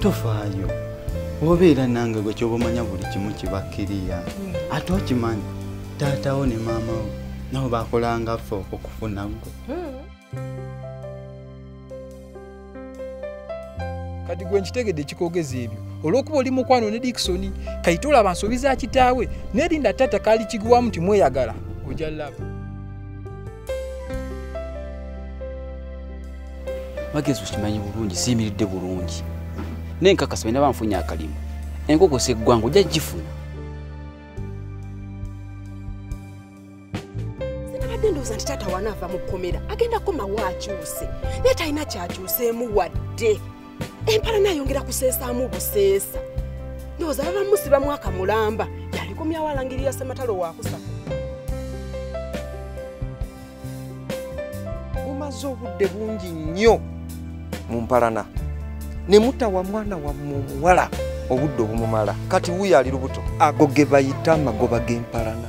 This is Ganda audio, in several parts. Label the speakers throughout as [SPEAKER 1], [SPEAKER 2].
[SPEAKER 1] tofaayo obeera nange gwe kyoba omanya buli kimu kibakkiriya ate okimanyi taatawo ne maamawo nabo bakolangaffe okufuna gwe
[SPEAKER 2] kati gwe nkitegedde ekikogeza ebyo olwokuba oli mukwano ne dikisoni kayite olaba nsobi za kitaawe nerinda taata kaali kiguwamu nti mweyagala oja laba
[SPEAKER 3] magezi okimanyi bulungi siyimiridde bulungi naye nkakasa bena banfunye akalimu enkoko seggwanga ojja gifuna
[SPEAKER 4] sinabadde ndowooza nti taata wanaava mu kkomera agenda komawo akyuse naye talina kyakyuseemu wadde empala nayongera kuseesaamu buseesa ndowooza baba musiba mwaka mulamba yalikomyawo alangirira sematalo wakusa
[SPEAKER 5] mumaze obudde bungi nnyo mu mpalana ne mutawa mwana wammwe omuwala obudde obumumala kati wuyo ali lubuto ago ge bayita amagoba g'empalana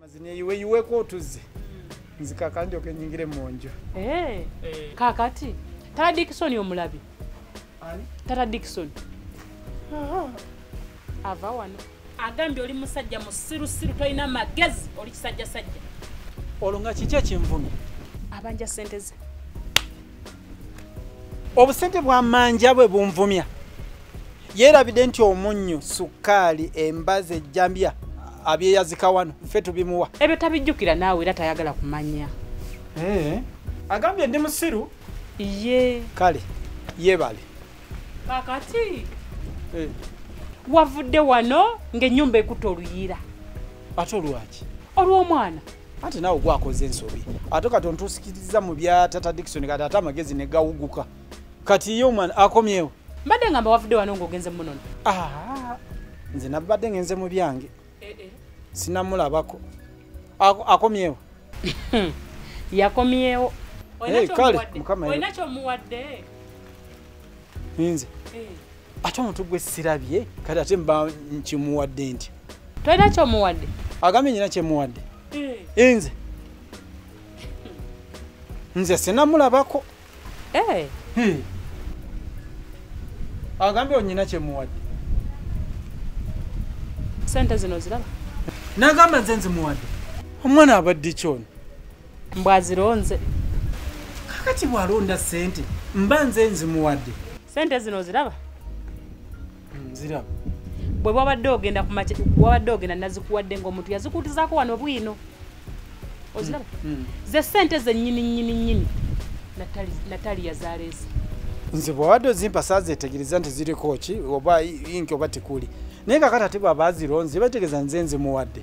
[SPEAKER 2] mazineyiwe yiweko otuzze nzikaka ndyoka enyingire mu nju eh, eh.
[SPEAKER 6] kakati tata dikisoni omulabi tata dikisoni ava wano agambye oli musajja musirusiru tolina magezi oli kisajjasajja olwo nga
[SPEAKER 7] kiki ekinvumi abanja sente
[SPEAKER 6] ze
[SPEAKER 7] obusente bwa manja bwe bunvumya yeerabidde nti omunnyo sukkaali embazi ejjambya abyeyazika wano ffe tubimuwa ebyo tabijjukira naawe
[SPEAKER 6] era tayagala kumanya eh.
[SPEAKER 7] agambye ndi musiru ye
[SPEAKER 6] kale
[SPEAKER 7] yebale kakati
[SPEAKER 6] eh. wavudde wano ng'ennyumba ekuta oluyiira ate
[SPEAKER 7] olwaki olw'omwana
[SPEAKER 6] ate nawe
[SPEAKER 7] gwakoze ensobi ate kati ontusikiriza mu bya tata dikson kati ate amagezi ne gawuguka kati ye omwana akomyewo mbadde ngamba wavudde
[SPEAKER 6] wano ngaogenze munono ah,
[SPEAKER 7] nze nabadde ngenze mu byange eh, eh. sinamulabako akomyewo
[SPEAKER 6] yakomyewo kale
[SPEAKER 7] mukama olina kyomuwadde nze eh. ate omuntu gwe sirabye kati ate mba nkimuwadde nti tolina kyomuwadde
[SPEAKER 6] agambye nyina
[SPEAKER 7] kyemuwadde eh. nze nze sinamulabako eh. agambye onyina kyemuwadde
[SPEAKER 6] sente zino ziraba nagamba nze
[SPEAKER 7] nzimuwadde omwana abadde kyona mbwazironze kakati bwalonda sente mba nze nzimuwadde sente zino
[SPEAKER 6] ziraba hmm,
[SPEAKER 7] ziraba
[SPEAKER 6] bwe wabadde ogenda kumaky wabadde ogenda nazikuwadde ngaomuntu yazikuutizako wano bwino oziraba hmm, hmm. ze sente zenyini nyini nyini natali yazaleesa nze bwewabadde
[SPEAKER 7] ozimpa sazetegereza nti ziriko ki oba inki oba tekuli naye kakati ati bwaba azironze bategeeza nze nzimuwadde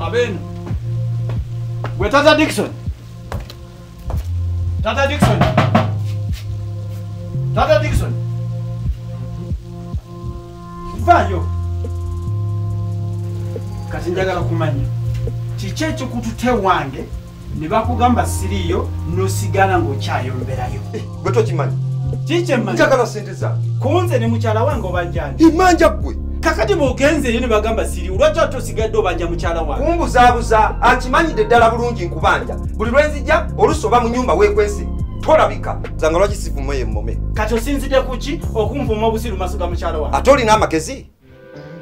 [SPEAKER 7] Abeno. Gwe tata Dixon. Tata Dixon. Tata Dixon. Vayo. Kati njagala kumanya. Kiki ekikututte wange ne bakugamba siriiyo nosigala ng'okyayomberayo eh, gwe tokimanyi
[SPEAKER 5] kikyemmanjagala
[SPEAKER 7] sente za
[SPEAKER 5] kunze ne mukyala
[SPEAKER 7] wange obanjanja imanja ggwe
[SPEAKER 5] kakati bwogenzeeyo
[SPEAKER 7] ne bagamba siriiyo lwaki ate osigadde obanja mukyala wange kumbuzaabuza
[SPEAKER 5] akimanyidde ddala bulungi nkubanja buli lwenzija olusi oba mu nyumba wekwese tolabika zanga lwaki sivumayo emmome kati osinzidde ku
[SPEAKER 7] ki okunvuma obusiru maso ga mukyala wange ate olina amagezi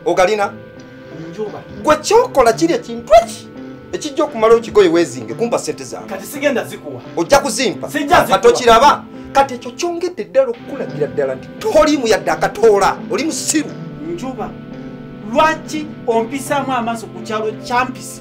[SPEAKER 5] ogalina
[SPEAKER 7] gwe kyokola
[SPEAKER 5] kiri ekintu eki ekijja okumala okigoye wezinge kumpa sente zange
[SPEAKER 7] ojja kuzimpa
[SPEAKER 5] kati okiraba
[SPEAKER 7] kati
[SPEAKER 5] ekyo kyongedde ddala okukulagira ddala nti toliimu yadde akatoola oli musiru njuba
[SPEAKER 7] lwaki ompisaamu amaaso ku kyalo kyampisi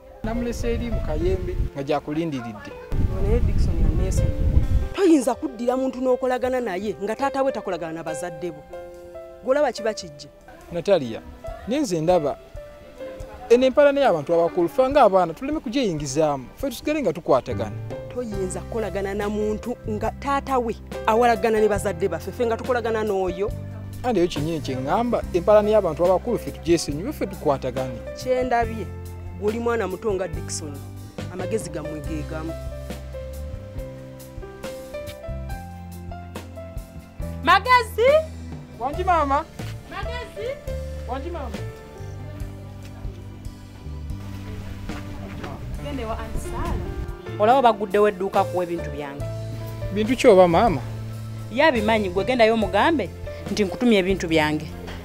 [SPEAKER 4] namulesa eri mu
[SPEAKER 2] kayembe nga gyakulindiridde naye dikson
[SPEAKER 4] yaneesonyiwa toyinza kuddira muntu n'okolagana naye nga taata we takolagana na bazadde bo golaba kiba kijje natalia
[SPEAKER 2] nenze ndaba eno empalana y'abantu abakulu fe ngaabaana tuleme kugyeyingizaamu fe tusigale nga tukwatagana toyinza
[SPEAKER 4] kukolagana na muntu nga taata we awalagana ne bazadde baffe fe nga tukolagana n'oyo andi eyo kinyini
[SPEAKER 2] kye ŋŋamba empalana y'abantu abakulu fe tugyesenyiwe fe tukwatagane kyendabye
[SPEAKER 4] oli mwana muto nga dikson amagezi gamwe gegamu magezi wangi maama
[SPEAKER 6] magezi wangi
[SPEAKER 2] maama
[SPEAKER 6] olaba baguddewo edduuka kuwa ebintu byange bintu kyoba
[SPEAKER 2] maama yabimanyi
[SPEAKER 6] gwe gendayo omugambe nti nkutumya ebintu byange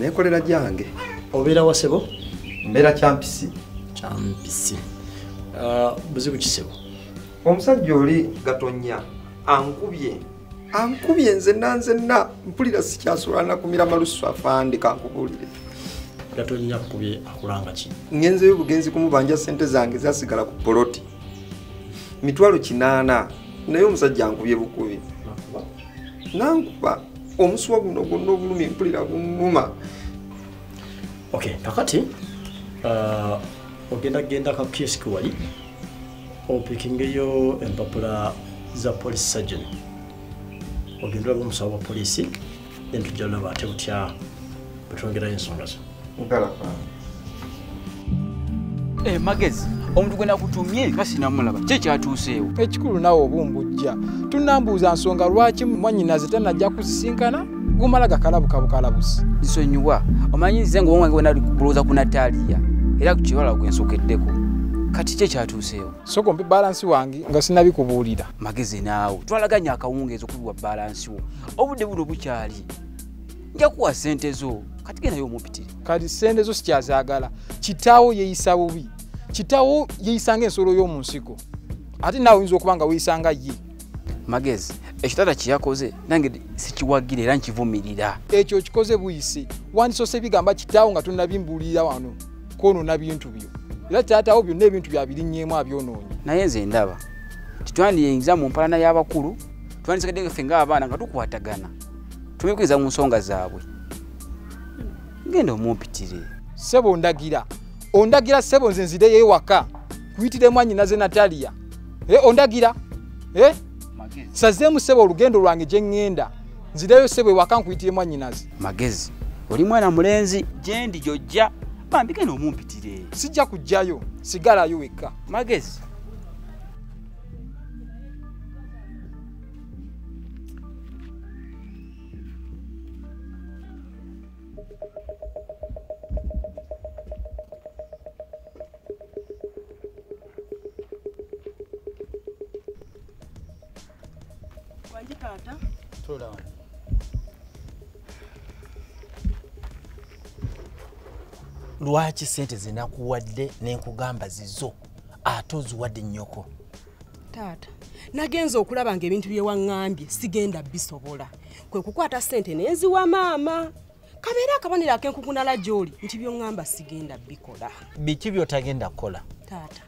[SPEAKER 8] nekolera gyange
[SPEAKER 5] obeera wasebo
[SPEAKER 8] mbeera
[SPEAKER 5] kyampisi kyampisi
[SPEAKER 8] ah, buzibu kisebo omusajja
[SPEAKER 5] oli gatonya ankubye ankubye nzenna nzenna mpulira sikyasobola nakumira malusu afande kankubuulire gatonya
[SPEAKER 8] kubye akulanga ki ngenzeyo bugenzi
[SPEAKER 5] kumubanja sente zange zasigala ku poloti mitwalo kinaana naye omusajja ankubye bukubi nankuba omusuwa guno gwonna obulumi mpulira bunuma
[SPEAKER 8] okay kakati uh, ogenda genda ka psk wali opikingeyo empapula za police surgeon ogenda olaba omusawo wa polisi then tujja olaba ate butya bwetwongerayo ensonga zino
[SPEAKER 3] Eh, magezi omuntu gwe nakutumye nga sinamulaba kye kyatuuseewo ekikulu nawe
[SPEAKER 2] obumbujja tunambuuza nsonga lwaki mwanyinaze tanajja kusisinkana gumala gakalabuka bukalabusi nsonyiwa
[SPEAKER 3] omanyi nze nga owange wenali kulowooza ku nataliya era ku kiwala gwe nsokeddeko kati kye kyatuuseewo soko mpe balansi
[SPEAKER 2] wange nga sinabikubuulira magezi naawe
[SPEAKER 3] twalaganya akawungeezi okubiwa balansi wo obudde buno bukyali nja kuwa sente zo kati genayo omupitire kati sente zo
[SPEAKER 2] sikyazagala kitawo yeyisa bubi kitawo yeyisanga ensolo y'omu nsiko ate naawe oyinza okuba nga weyisanga ye magezi
[SPEAKER 3] ekitata kyeyakoze nange sikiwagira era nkivumirira ekyo kikoze
[SPEAKER 2] buyisi wandisose bigamba kitaawo nga tonabimbuulira wano kwonona bintu byo era taatawo byonna ebintu byabirinyemu abyonoonyi naye nze ndaba
[SPEAKER 3] titwandiyinza mu mpalana y'abakulu twandisekedde ffe ngaabaana nga tukwatagana tubikiriza mu nsonga zaabwe genda omumpitire sebo ondagira
[SPEAKER 2] ondagira sebo nze nzireyo ewaka kuyitire mwanyina ze nataliya e, eh, ondagira e? Eh? sazeemu sebo olugendo lwange gye ŋŋenda nzireyo sebo ewaka nkuyitire mwanyinaze magezi
[SPEAKER 3] oli mwana mulenzi gyendi gyojja bambi genda omumpitire sijja kujjayo
[SPEAKER 2] sigalayo wekka magezi
[SPEAKER 9] Wangi taata. Tula wangi. Lwaki sente zinakuwadde nenkugamba zizo ate oziwadde nnyoko taata
[SPEAKER 4] nagenza okulaba nga ebintu byewaŋambye sigenda bisobola kwe kukwata sente nenziwa maama kabeera akabonero akenkukunala gyoli nti byoŋamba sigenda bikola biki byotagenda
[SPEAKER 9] kukola taata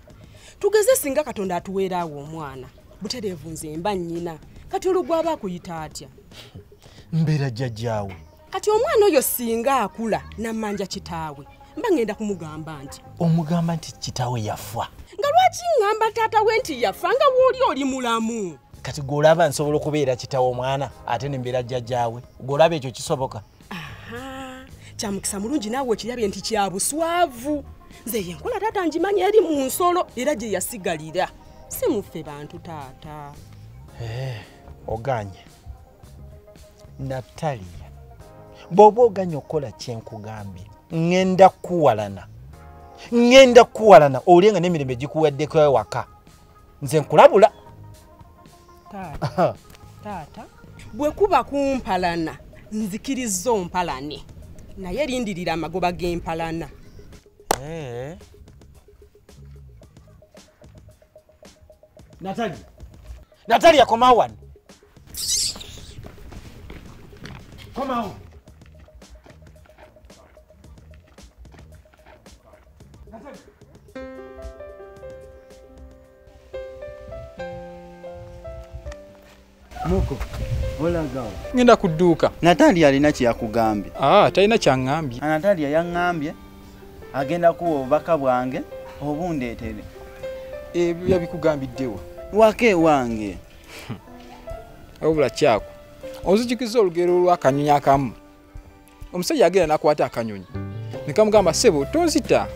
[SPEAKER 4] tugeze singa katonda atuweeraawo omwana butereevu nze mba nnyina kati olugwaba akuyita atya mbeera
[SPEAKER 9] jjajjaawo kati omwana oyo
[SPEAKER 4] singa akula namanja kitaawe mba ngenda kumugamba nti omugamba nti kitaawe
[SPEAKER 9] yafa nga lwaki ngamba
[SPEAKER 4] taata we nti yafa nga wooli oli mulamu kati gweolaba
[SPEAKER 9] nsobola okubeera kitaawe omwana ate nembeera jjajaawe gweolaba ekyo kisoboka
[SPEAKER 4] kyamukisa mulungi naawe okirabye nti kyabuswavu nze yenkola taata ngimanyi eri mu nsolo era gye yasigalira si muffe bantu taata eh, oganye
[SPEAKER 9] nataliya bw'oba oganya okukola kyenkugambye ŋŋenda kukuwalana ŋŋenda kukuwalana owulire nga n'emirembe gikuweddeko ewaka nze nkulabula
[SPEAKER 4] taata bwe kuba kumpalana nzikirizza ompalane naye lindirira amagoba g'empalana eh.
[SPEAKER 9] natali Natalia koma wano. Koma wano.
[SPEAKER 1] Muko. Olagawa. Ngenda kuduuka.
[SPEAKER 2] Natalia alina
[SPEAKER 1] kyeyakugambye. Ah, talina kyangambye.
[SPEAKER 2] Natalia yangambye.
[SPEAKER 1] agenda kuwa obubaka bwange obundeetere
[SPEAKER 2] ebyo yabikugambiddewa waka ewange obula kyako ozijukiza olugero olwakanyonyi akamu omusajja agenda nakwata akanyonyi nekamugamba sebo tonzita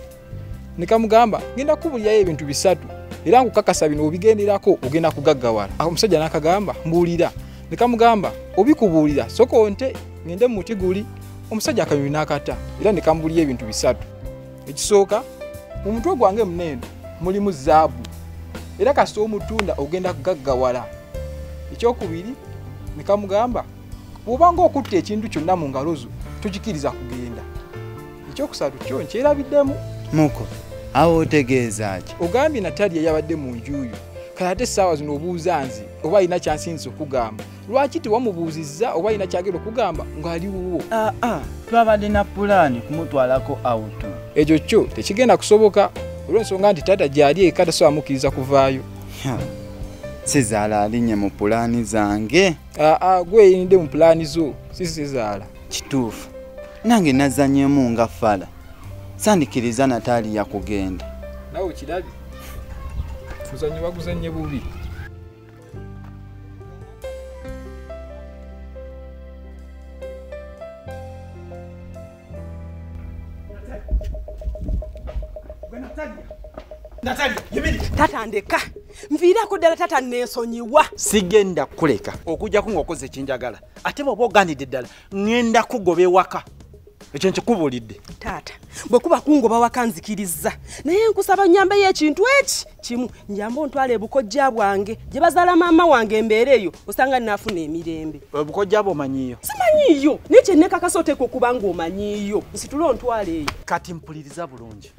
[SPEAKER 2] nekamugamba ngenda kubulirayo ebintu bisatu era nkukakasa bino obigenderako ogenda kugaggawala omusajja nakagamba mbuulira nekamugamba obikubuulira soka onte ngende mu muti guli omusajja akanyonyi n'akata era ne kambuliyo ebintu bisatu ekisooka mu mutwe gwange muneeno mulimu zaabu era kasita omutunda ogenda kugaggawala ekyokubiri ne kamugamba bw'obanga okutta ekintu kyonna mu ngalo zo tokikiriza kugenda ekyokusatu kyo nkyerabiddemu muko
[SPEAKER 1] awo otegeeza ki ogambye natali eyabadde
[SPEAKER 2] mu njuuyo kale ate essaawa zino obuuza nze oba alina kyansinza okugamba lwaki tewamubuuzizza oba alina kyagera okugamba ng'ali wuwo aa ah, ah, twabadde
[SPEAKER 1] na pulaani kumutwalako awutu ekyo kyo
[SPEAKER 2] tekigenda kusoboka olw'ensonga nti taata gyali eka tasobola mukkiriza kuvaayo
[SPEAKER 1] sezaala alinye mu pulaani zange aa ah, gweyinidde
[SPEAKER 2] mu pulaani zo si sezaala kituufu
[SPEAKER 1] nange nazanyemu nga fala sandikiriza nataali yakugenda nawe kirabye
[SPEAKER 2] kuzanyo baguzanye bubi
[SPEAKER 9] tatandeka
[SPEAKER 4] nviirako ddala tata nensonyiwa sigenda
[SPEAKER 9] kukuleka okujjako ngaokoze ekinjagala ate bwoba oganidde ddala ŋenda kugoba ewaka ekyo nkikubuulidde taata
[SPEAKER 4] bwekuba kungoba waka nzikiriza naye nkusaba nyambeyo ekintu eki kimu njamba ontwala ebukojja bwange gye bazaala maama wange embeera eyo osanga nnaafuna emirembe ebukojja bwe omanyiiyo
[SPEAKER 9] simanyiiyo naye
[SPEAKER 4] kyennekakasa oteeka okuba nga omanyiiyo nsitule ontwala eyo kati mpuliriza
[SPEAKER 9] bulungi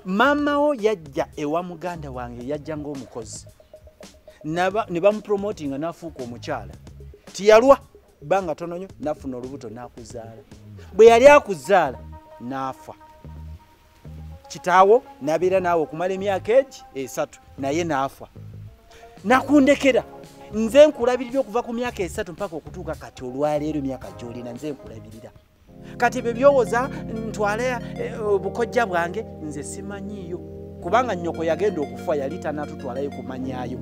[SPEAKER 9] maama wo yajja ewa muganda wange yajja ng'omukozi
[SPEAKER 7] ne bamupromotinga n'afuuka omukyala tiyalwa bbanga tononyo nafuna olubuto nakuzaala bwe yali akuzaala naafa kitaawo nabeera naawe okumala emyaka egi esatu naye naafa nakundekera nze nkulabirira okuva ku myaka esatu mpaka okutuuka kati olwaleero emyaka gyolina nze nkulabirira kati ebyo byowoza ntwale eh, obukojja bwange nze simanyiiyo kubanga nyoko yagenda okufa yali tanatutwalayo kumanyayo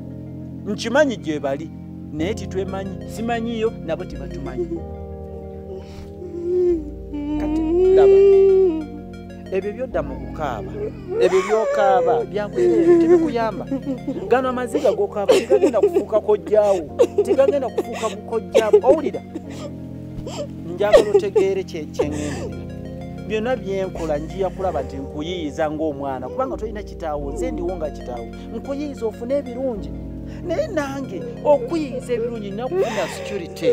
[SPEAKER 7] nkimanyi gyebali naye titwemanyi simanyiiyo nabo tibatumanyi kati laba ebyo byodda mu kukaaba ebyo byokaaba byakuseera tebikuyamba gano amaziga gokaaba tigagenda kufuuka kojjaawo tigagenda kufuuka kukojjaawo owulira njagala otegeere kyeŋendera byonna byenkola njiya kulaba nti nkuyiyiza ngaomwana kubanga tolina kitaawo nze ndiwo nga kitaawo nkuyiyiza ofune ebirungi naye nange okuyiyiza ebirungi nakufuna security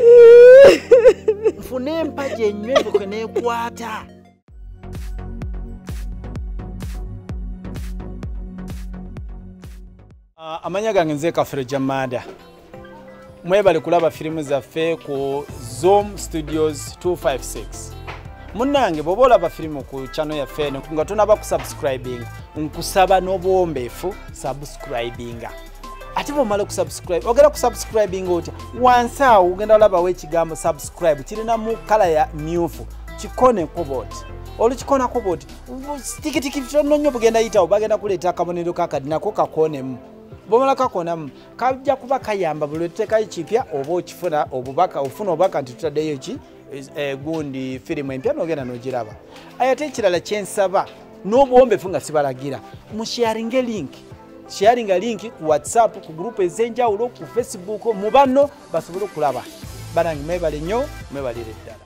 [SPEAKER 7] nfune empagi enywebuke nekwata Ah, amanya gange nze kafere jamada mwebale kulaba firimu zaffe ku zoom studios 256 munange bwoba olaba firimu ku chano yaffe eno nga tonaba kusubscribing nkusaba n'obuwombeefu subscribinga ate bwomala okusubscribe ogenda kusubscribing otya wansi awo ogenda olabawo ekigambo subscribe kirinamu kala ya myufu kikoneko boti olukikonako boti tikitiki tono nyo bugenda yitawo bagenda kuleeta akabonero kakadi nako kakonemu bwomala kakonamu kajja kuba kayamba buli otutekayo kipya oba okifuna obubaka ofuna obubaka nti tutaddeyo ki Eh, gundi firimu empya nogenda nogiraba ayate ekirala kyensaba n'obuwombefu nga sibalagira musharinge link sharinga link ku whatsapp ku gurupu ez'enjawulo ku facebook mu banno basobole okulaba banange mwebale nnyo mwebalire ddala